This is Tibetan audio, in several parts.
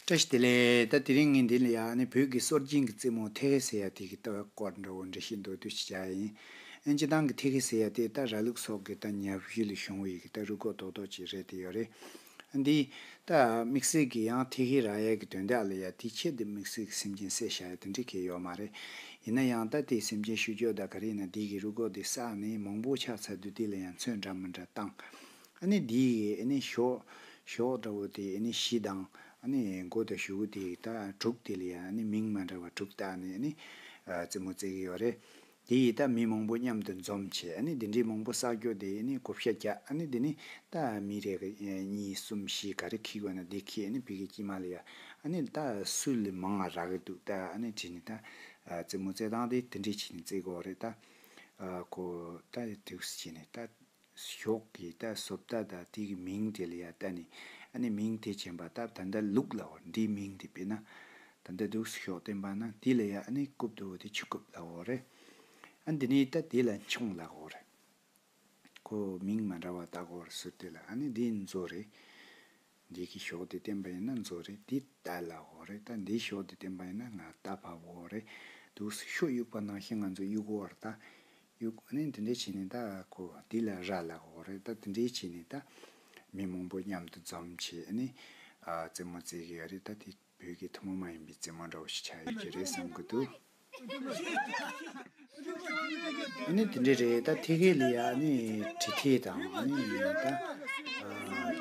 བཀྲ་ཤིས་བདེ་ལེགས་ད་དེ་རིང་ངས་འདི་ལ་ཡག་ནི་བོད་ཀྱི་སྲོལ་རྒྱུན་གྱི་རྩེད་མོ་ཐེ་གེ་སེ་ཡ་དེ་གི་ལྟ་བའི་སྐོར་འདྲ་བོ་འབྲི་བཞིན་འདུག་དུས་ཕྱིས་བྱ་ཡ་ཡིན། ཨན་སྤྱི་བཏང་གི་ཐེ་གེ་སེ་ཡ་དེ་རྟ་ར་ལུག་སོགས་ཀྱི་རྟ་ཉལ་བཞི་ལས་བྱུང་བ་ཡི་གི་རྟ་རུ་གོ་ལྡོག་ལྡོག་ཅིག་རེད་དེ་ཡོད་རེད། ཨ་འདིའི། རྟ། མིག་སེར་གྱི་ཡང་ཐེ་གེ་ར་ཡ་གི་དོན་དག་ལ་ཡ་དེའི་ཆེད་དུ་མིག་སེར་གྱི་སེམས་ཅན་བསད་བྱ་ཡ་དེ་འདྲ་ཁེལ་ཡོད་མ་རེད། ཡིན་ན་ཡང་རྟ་དེའི་སེམས་ཅན་བཤུ་གཅོད་དག་ག་རེ་ཡིན་ན་དེ་གི་རུ་གོ་དེ་བསགས་ནས་མང་པོ་ཆགས་ཚར་དུས་དེ་ལ་ཡང་མཚོན་འདྲ་མི་འདྲ་བཏང། ཨ་ནི་འདི་ཡི་ཨ་ནི་ཞོགས། འདྲ་བོ་དེ་ཨ་ནི་བཞི་དང། ཨ་ནི་མགོ་དང་གཞུ་དེ་ཡི་རྟགས་དྲུག་དེ་ལ་ཡང་ཨ་ནི་མིང་མ་འདྲ་བ་དྲུག་རྟགས་ནི་ཨ་ནི། རྩེ་མོ་རྩེ་གི་ཡོ་རེ། དེ་ཡི་རྟགས་མི་མང་པོ་མཉམ་དུ་འཛོམས་བྱས་ཨ་ནི་འདི་འདྲའི་མང་པོ་བསགས་རྒྱོ་དེ་ཨ་ནི་གོ་བཤའ་བརྒྱ་ཨ་ནི་འདི་ནི་རྟགས་མི་རེ་གི་གཉིས་གསུམ་བཞི་ག་རེ་ཁིག་བ་ན་འདི་ཁིག་ཨ་ནི་བི་གི་དཀྱིལ་མ་ལ་ཡ་ཨ་ནི་རྟགས་སུ་ལི་མང་ང་རག་གི་འདུག་རྟགས་ཨ་ནི་བྲི་ནི་རྟགས། རྩེ་མོ་རྩེ་དང་དེ་དེ་འདྲའི་བྱས་ནི་རྩེ་གོ་རེ་རྟགས། གོ་རྟགས་དེ་དུགས་སུ་བྱས་ནི་རྟགས། ཞོག་གི་རྟ་བསོབ་རྟ་དང་དེ་གི་མིང་དེ་ལ་ཡ་རྟ་ནི་ཨ་ནི་མིང་དེ་བྱེན་པ་སྟབས་ད་འདའ་ལུགས་ལ་འོར་འདིའི་མིང་དེ་པེ་ན་ད་འདའ་འདུག་ཞོག་བསྟན་པ་ན་དེ་ལ་ཡ་ཨ་ནི་རྐུབ་དུ་བོ་དེ་ཆུ་རྐུབ་ལ་འོར་རེ་ཨ་འདི་ནི་རྟ་དེ་ལ་མཆོང་ལ་འོར་རེ་ཁོ་མིང་མ་འདྲ་བ་དག་འོར་ཟུར་དེ་ལ་ཨ་ནི་འདི་མཛོ་རེ། འདི་གི་ཞོགས་དེ་བསྟན་པ་ཡིན་ན་མཛོ་རེད་འདི་རྟ་ལ་བོ་རེད་ད་འདིའི་ཞོགས་དེ་བསྟན་པ་ཡིན་ན་ང་རྟ་ཕ་བོ་རེད་འདུག་སི་ཤོག་དབྱུག་པ་ནང་བཞིན་ང་ཚོ་དབྱུག་གོ་བར་ད་དབྱུག་ནི་འདི་འདྲས་བྱས་ནས་ད་གོ་འདི་ལ་ར་ལ་བོ་རེད་ད་འདི་འདྲས་བྱས་ནས་ད། མི་མང་པོ་མཉམ་དུ་འཛོམས་བྱས་ནས་རྩེད་མོ་རྩེད་གི་ཡོད་རེད་ད་དེ། བོད་ཀྱི་ཐུན་མོང་མ་ཡིན་པའི་རྫས་མ་འདྲ་བོ་ཞིག་ཆགས་ཡོད་ཀྱི་རེད་བསམ་གྱི་འདུག། ཨ་ནི་དེ་འདྲ་རེད་ད་ཐེ་གེ་ལི་ཡ་ཨ་ནི་གྲི་ཐེ་དང་ཨ་ནི་ད་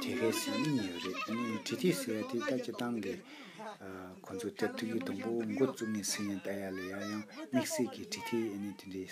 ཐེ་གེ་སི་གཉིས་ཡོད་རེད་ཨ་ནི་གྲི་ཐེ་ཟེར་བ་དེ་ད་སྤྱི་བཏང་གི་ཁོང་ཚོ་སྟེར་ཐུག་གི་དུམ་བུ་མགོ་བཙུགས་ནས་སུ་ཡིན་ད་ཡ་ལི་ཡ་ཡང་དམིགས་བསལ་གྱི་གྲི་ཐེ་ཨ་ནི་དེ་འདྲའི།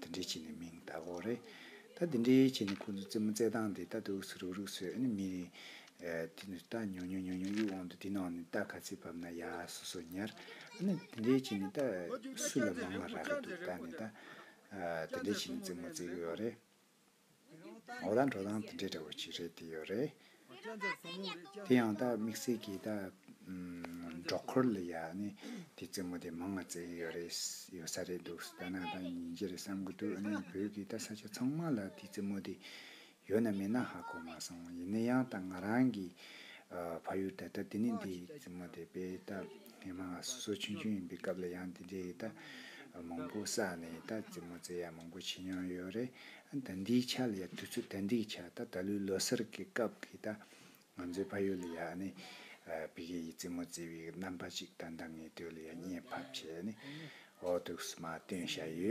དེ་འདྲའི་ཆེད་ནས་མིང་བཏགས་སྐོར་རེད། ད་དེ་འདྲའི་ཆེད་ནས་ཁོང་ཚོ་རྩེད་མོ་རྩེད་སྟངས་དེ་ལྟ་དུ་ཧུགས་སུ་རུག་རུག་བཟོས་ཨ་ནི་མི་དེ་ནི་རྟ་ཉོ་ཉོ་ཉོ་ཉོ་གཡུག་འོང་དུ་དེ་ནང་ནས་རྟ་ག་ཚད་བབས་ན་ཡ་སོ་སོ་ཉར། ཨ་ནི་དེ་འདྲའི་ཆེད་ནས་རྟ་སུ་ལ་མང་ལ་རག་གི་འདུག་ད་ནི་ད་དེ་འདྲའི་ཆེད་ནས་རྩེད་མོ་རྩེད་ཀྱི་ཡོད་རེད། ངོ་ལ་འགྲོ་སྟངས་དེ་འདྲའི་འདྲ་བོ་ཅིག་རེད་དེ་ཡོད་རེད། དེ་ཡང་ད་དམིགས་བསལ་གྱི་ད་འབྲོག་འཁོར་ལོ་ཡ་ནི་དེ་རྩེད་མོ་དེ་མང་ང་བརྩེ་གི་ཡོད་རེད་ཡོད་ས་རེད་འདུག་ད་ནང་ད་ཉིན་རྗེ་རེད་བསམ་གི་འདུག་ཨ་ནི་བོད་ཀྱི་ད་ས་ཆ་ཚང་མ་ལ་དེ་རྩེད་མོ་དེ་ཡོད་ན་མེད་ན་ཧ་གོ་མ་སོང་ཡིན་ན་ཡང་ད་ང་རང་གི་ཕ་ཡུལ་ད་ད་དེ་ནི་དེ་རྩེད་མོ་དེ་དཔེ་ད། དེ་མ་གསོ་ཆུང་ཆུང་ཡིན་པའི་སྐབས་ལ་ཡང་འདི་འདྲའི་ཡིད་ལྟ་མང་པོ་བསགས་ནས་ཡིད་ལྟ་རྩེད་མོ་རྩེ་ཡག་མང་པོ་བྱེད་མྱོང་ཡོད་རེད། ད་འདིའི་ཆ་ལ་ཡང་དུས་ཚོད་ད་འདིའི་ཆ་ད་ད་ལོའི་ལོ་སར་གྱི་སྐབས་ཀྱི་ད་ང་ཚོའི་ཕ་ཡུལ་ལ་ཡག་ནས་བི་གའི་ཡིད་རྩེད་མོ་རྩེ་བའི་རྣམ་པ་ཅིག་ད་ལྟ་ངའི་དོད་ལ་ཡང་བརྙན་ཕབ་བྱས་ནས་འོག་ཏུ་མ་བཏོན་བཞག་ཡོད།